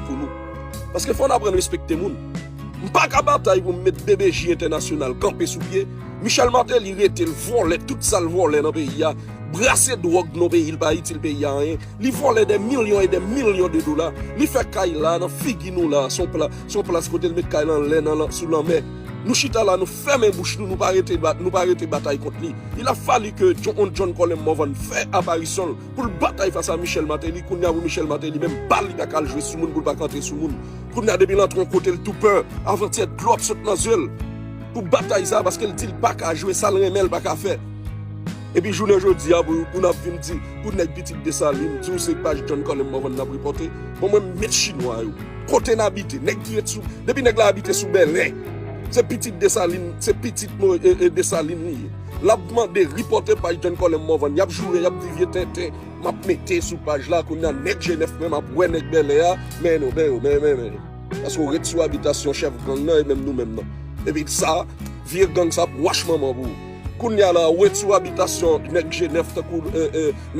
pou nou. Paske fò n aprann respekte moun. M pa ka batay pou m met BBJ entènasyonal kanpe sou pye, Michel Martelly rete l vòlè tout sa l vòlè nan peyi a, brase dwòg nan peyi l pa itil peyi a anyen, li vòlè dè milyon e dè milyon de dola, li fè kay la nan figi nou la, s on plas kote l met kay lan lè nan sou lanmè. Nou chita la nou fèmen bouch nou, nou pa rete batay kont li. Il a fallu que on John Colem Morvan fè aparisyon l. Pou l batay fas a Michel Martelly kounye a pou Michel Martelly menm bal li pa ka al jwe sou moun pou l pa ka antre sou moun kounye a depi l antre yon kote l tou pè avantyè dlo ap sot nan zye l pou batay sa paske l di l pa ka jwe sa l renmen l pa ka fè epi jounen jodi a pou n ap vin di pou nèg pitit Dessalines di w se paj John Colem Morvan n ap repòte bon mwen m met chinwa yo kote n abite nèg ki ret sou depi nèg la abite sou Bèlè se pitit Dessalines se pitit Dessalines li ye. Lap mande ripote paj John Colem Morvan yap joure yap di vye tenten map mete sou paj la kounya nèg jenèf menm ap wè nèg bèlè a men nou men yo men men men yo paske ou ret sou abitasyon chèf gang nan e menm nou menm nan epi sa vye gang sa ap wach manman pou ou kounya la ou ret sou abitasyon nèg jenèf tankou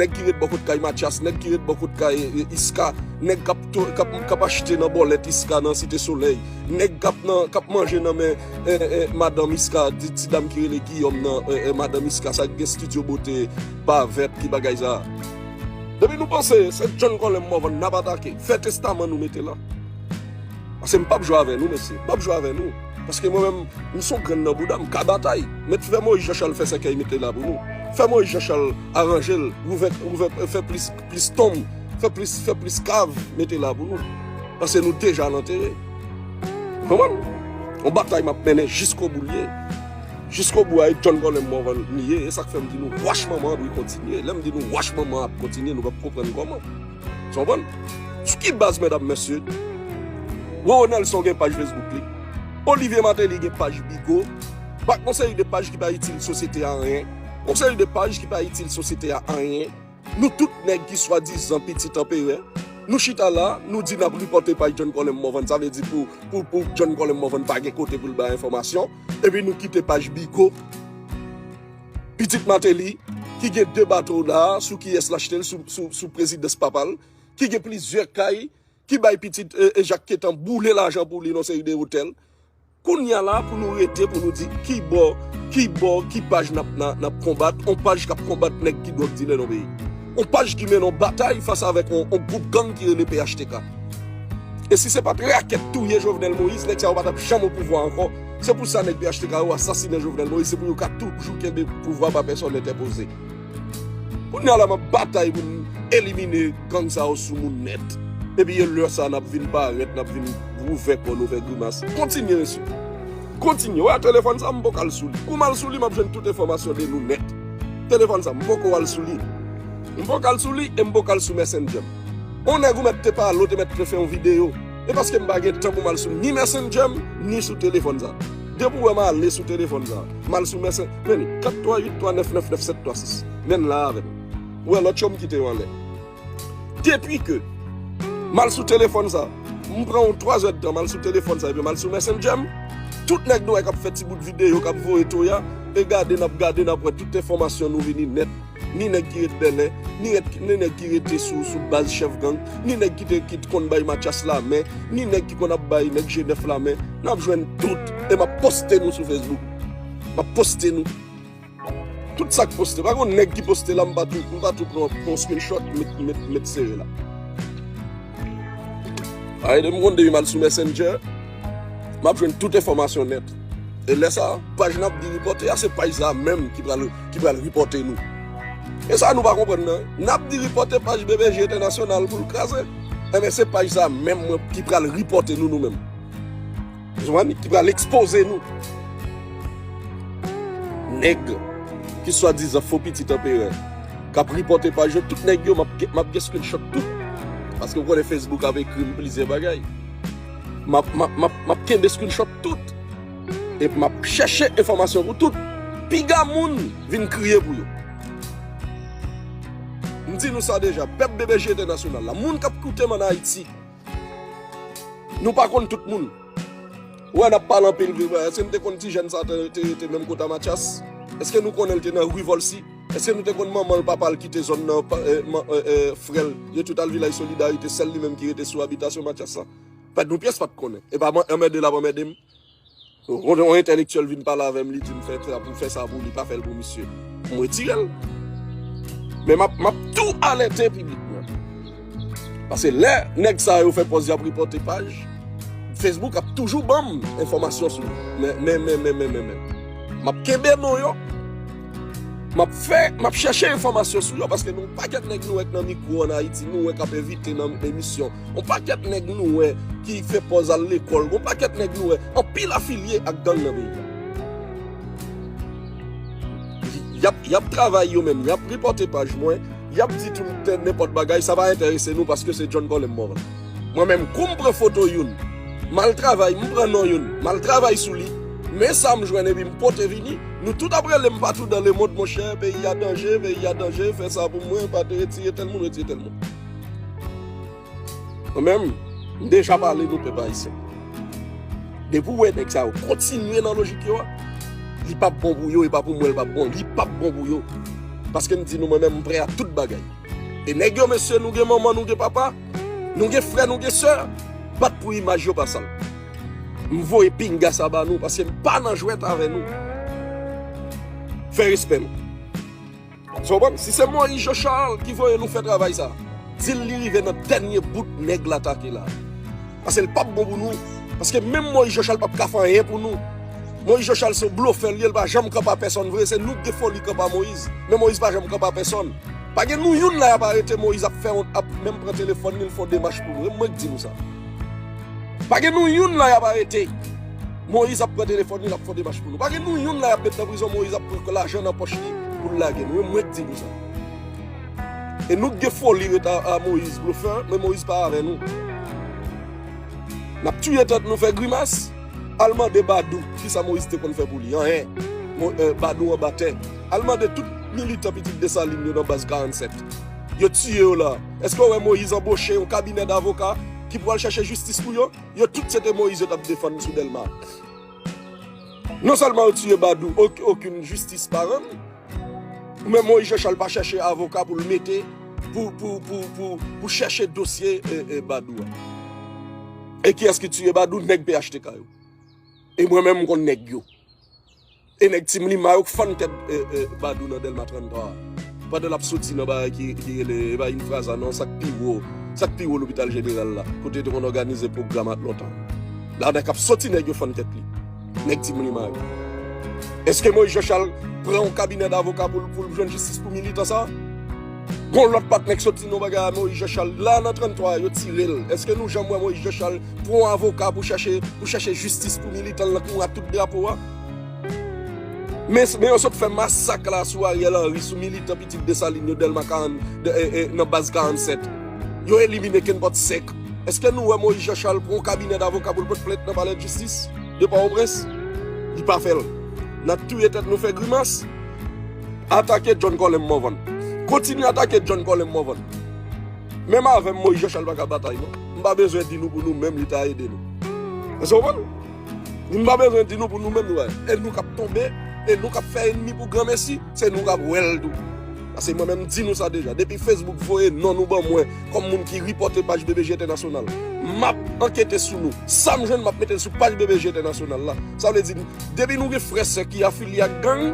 nèg ki ret bò kot kay matyas nèg ki ret bò kot kay iska nèg kap kap achte nan bòlèt iska nan site solèy nèg kap nan kap manje nan men Madan Miska di ti dam ki rele Guillaume nan Madan Miska sa ki gen studio beauté ba vert ki bagay sa. Depi nou panse se John Colem Morvan nap atake fè testaman nou mete la pase m pap jwe avè nou mesye m pap jwe avè nou paske mwen menm m son grenn nan bouda m ka batay met fè Moïse Jean Charles fè sèkèy mete la pou nou fè Moïse Jean Charles aranjel ouvè ouvè fè plis plis tonm, fè plis fè plis kav mete la pou nou. Pase nou deja nan tere. Ou konprann? On batay map mennen jisko bou liye. Jisko bou a e John Colem Morvan li ye. E sak fèm di nou wach manman an dwe kontinye. Lèm di nou wach manman an ap kontinye nou pap konprann koman. Ou konprann? Sou ki baz medam mesye? Roro Nelson gen paj Facebook li. Olivier Martelly gen paj Bigo. Bak on seri de paj ki pa itil sosyete a anyen. On seri de paj ki pa itil sosyete a anyen. Nou tout nèg ki swadizan pitit anperè, nou chita la, nou di n ap ripòte paj John Colem Morvan, sa vle di pou John Colem Morvan pa gen kote pou l bay enfòmasyon, epi nou kite paj Bigot, pitit Mateli, ki gen 2 bato la, sou kiyès l achte l, sou prezidans papa l, ki gen plizyè kay, ki bay pitit Jacques Quettant boule lajan pou li nan seri de otèl. Kounya la pou nou rete pou nou di kibò, kibò, ki paj nap nap konbat, on paj kap konbat nèg ki dwòg dilè nan peyi. On paj ki mennen on batay fas avèk on gwoup gang ki rele phtk. E si se pat rakèt touye Jovenel Moïse, nèg sa yo pa tap janm opouvwa ankò. Se pou sa nèg phtk yo asasinen Jovenel Moïse, se pou yo ka toujou kenbe pouvwa pa pèsòn entèpoze. Kounya la map batay pou m elimine gang sa yo sou moun nèt. Epi e lè sa nap vin parèt, nap vin ouvè kò nou fè grimas. Kontinye mesye. Kontinye. Ou wè telefòn sa m poko al sou li. Kou m al sou li map jwenn tout enfòmasyon de nou nèt. Telefòn sa m poko al sou li. M poko al sou li e m poko al sou messenger m. On nèg ou mèt te pale ou te mèt te fè yon videyo. E paske m pa gen tan pou m al sou ni messenger m ni sou telefòn sa. Depi ou wè m ale sou telefòn sa, m al sou mèsè, men li, 438399976, menn la avè m. Ou wè lòt yo m kite yo anlè. Depi ke m al sou telefòn sa, m pran yon twazèdtan m al sou telefòn sa epi m al sou mèsendjè m, tout nèg nou wè k ap fè ti bout videyo, k ap voye toya, e gade n ap gade n ap wè tout enfòmasyon nou vini nèt. Ni nèg ki ret Bèlè, ni ret ni nèg ki rete sou sou baz chèf gang, ni nèg ki te ki t konn bay Matyas lamen, ni nèg ki konn ap bay nèg Jenèf lamen, nap jwenn tout e map poste nou sou Facebook. Map poste nou. Tout sak poste, pa gon nèg ki poste la m pa tou m pa tou pran pran yon screenshot met met met sere la. Ay de m konn depi m al sou Messenger, map jwenn tout enfòmasyon nèt. E lè sa, paj nap di ripote a se paj sa menm ki pral ki pral reporte nou. E sa nou pa konprann nan. Nap di reporte paj BBJ Entènasyonal pou l kraze. Enben se paj sa menm mwen ki pral reporte nou nou menm. Ou konprann? Ki pral ekspoze nou. Nèg ki swa dizan fo pitit anperè kap reporte paj yo, tout nèg yo map gen screenshot tout. Paske ou konnen Facebook ap ekri m plizyè bagay. Map kenbe screenshot tout. Epi m ap chèche enfòmasyon pou tout piga moun vin kriye pou yo. M di nou sa deja, pèp BBJ entènasyonal la, moun k ap koute m ann Ayiti, nou pa konn tout moun. Ou wè n ap pale anpil vre vre, èske nou te konn ti jèn sa te menm kot a Matyas? Èske nou konnen l te nan Rue Volcy? Èske nou te konn manman l, papa l kite zòn nan, frè l, yo tout al Vilaj Solidarite, sèl li menm ki rete sou abitasyon Matyas la? Pèd yon pyès pat konnen. Epa mwen anmède lap anmède m. Yon entèlektyèl vin pale avè m li di m fè sa pou fè sa pou li pa fè l pou misye. M retire l. Men map tou alète piblik mwen. Pase lè nèg sa yo fè pòz yap repòte paj, Facebook ap toujou banm enfòmasyon sou yo. Men men men men men men men. Map kenbe non yo. Map fè, map chèche enfòmasyon sou yo paske nou pakèt nèg nou wè nan mikro an Ayiti, nou wè kap envite nan emisyon. On pakèt nèg nou wè ki fè pòz al lekòl, on pakèt nèg nou wè anpil afilye ak gang nan peyi. Yap yap travay yo menm, yap ripòte paj mwen, yap di tout tè nenpòt bagay, sa pa enterese nou paske se John Colem Morvan. Mwen menm kou m pran foto youn, mal travay, m pran non youn, mal travay sou li, men sa m jwenn epi m pote vini. Nou tout ap relem patou dan le mond monchè peyi a danje peyi a danje fè sa pou mwen pa retire tèl moun retire tèl moun mwen menm m deja pale nou pèp ayisyen depi ou wè nèg sa yo kontinye nan lojik yo a li pap bon pou yo e pa pou mwen li pap bon li pap bon pou yo paske m di nou mwen menm m prè a tout bagay e nèg yo mesye nou gen manman nou gen papa nou gen frè nou gen sè bat pou imaj yo pa sal. M voye pinga sa ba nou paske m pa nan jwèt avè nou. Fè respè nou. Sa w konprann? Si se Moïse Jean Charles ki voye nou fè travay sa, di l li rive nan dènye bout nèg l atake la. Paske l pap bon pou nou. Paske menm Moïse Jean Charles pap ka fè anyen pou nou. Moïse Jean Charles se yon blofè l ye, l pa janm kanpe a pèsòn vre. Se nou k gen foli kanpe a Moïse. Men Moïse pa janm kanpe a pèsòn. Pa gen nou youn la y ap arete Moïse ap fè wont ap menm pran telefòn li l fè yon demach pou nou. E mwen k di nou sa. Pa gen nou youn la yap arete Moïse ap pran telefòn li lap fon demach pou nou pa gen nou youn la yap met nan prizon Moïse ap pran lajan nan pòch li poul lage nou e mwen k di nou sa e nou k gen foli ret a Moïse blofè men Moïse pa avè nou nap tiye tèt nou fè grimas al mande badou kisa Moïse te konn fè pou li anyen badou anba tè al mande tout militan pitit Dessalines yo nan baz 47 yo tiye yo la èske ou wè Moïse anboche yon kabinè davoka ki pwal chache jistis pou yo, yo tout se te Moïse yo tap defann sou Delma. Non selman yo tiye Badou ok okun jistis pa rann, men Moïse Jean Charles pa chache avoka poul mete pou pou pou pou pou chache dosye e Badou a. E kiyes ki tiye Badou? Neg phtk yo. E mwen menm m konn neg yo. E nèg Timlima yo k fann tèt Badou nan Dèlma 33 a pandan l ap soti nan bagay ki rele e pa Infraza non sa k pi wo sa k pi wo lopital jeneral la kote yo te konn òganize pwogram ak lontan la nèg k ap soti nèg yo fann tèt li nèg Timlima yo Èske Moyiz Janchal pran yon kabinè davoka pou l pou l jwenn jistis pou militan sa a Gon lòt patnè k soti nan bagay a Moyiz Janchal la nan 33 a yo tire l Èske nou janm wè Moyiz Janchal pran yon avoka pou chache pou chache jistis pou militan l nan kou a tout drapo a. Men yo sot fè masak la sou Ariel Henry, sou militan pitit Dessalines yo Delma 40, nan baz 47. Yo elimine kenpòt sèk. Eske nou wè Moïse Jean Charles pran yon kabinè davoka pou l pot plent nan palèdjistis de Pòtoprens? Li pa fè l. N ap touye tèt nou fè grimas. Atake John Colem Morvan. Kontinye atake John Colem Morvan. Menm avè m Moïse Jean Charles pa ka batay non. M pa bezwen di nou pou nou menm li ta ede nou. Èske w konprann? Nou pa bezwen di nou pou nou menm wè, e nou kap tonbe, e nou kap fè enmi pou granmesi, se nou kap wèl tou. Pase mwen menm di nou sa deja, depi Facebook voye non nou ban mwen kòm moun ki ripòte paj BBJ Entènasyonal, map ankete sou nou, sam jwenn map metel sou paj BBJ Entènasyonal la. Sa vle di depi nou gen frè sè ki afilye ak gang,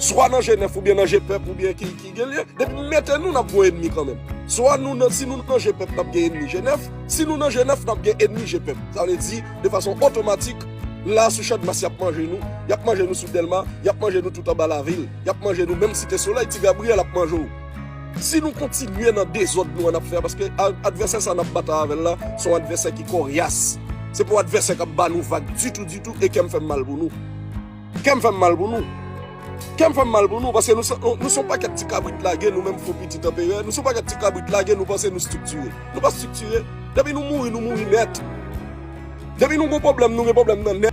swa nan je nèf oubyen nan je pèp oubyen ki. Genlye depi nou mete nou nap voye enmi kanmenm. Swa nou nan si nou nan je pèp nap gen enmi je 9, si nou nan je 9 nap gen enmi je pèp. Sa vle di de fason otomatik la sou chadmas yap manje nou, yap manje nou sou delma, yap manje nou tout anba lavil, yap manje nou menm site solèy ti Gabriel ap manje w. Si nou kontinye nan dezòd nou an nap fè a paske advèsè sa nap batay avèl la son advèsè ki koryas. Se pa yon advèsè kap ba nou vag ditou ditou e kèm fèm mal pou nou. Kèm fèm mal pou nou. Kèm fèm mal pou nou paske nou son nou son pakèt ti kabrit lage nou menm fo pitit anperè nou son pakèt ti kabrit lage nou panse nou striktire nou pa striktire depi nou mouri nou mouri nèt depi nou gon pwoblèm nou gen pwoblèm nan nèt.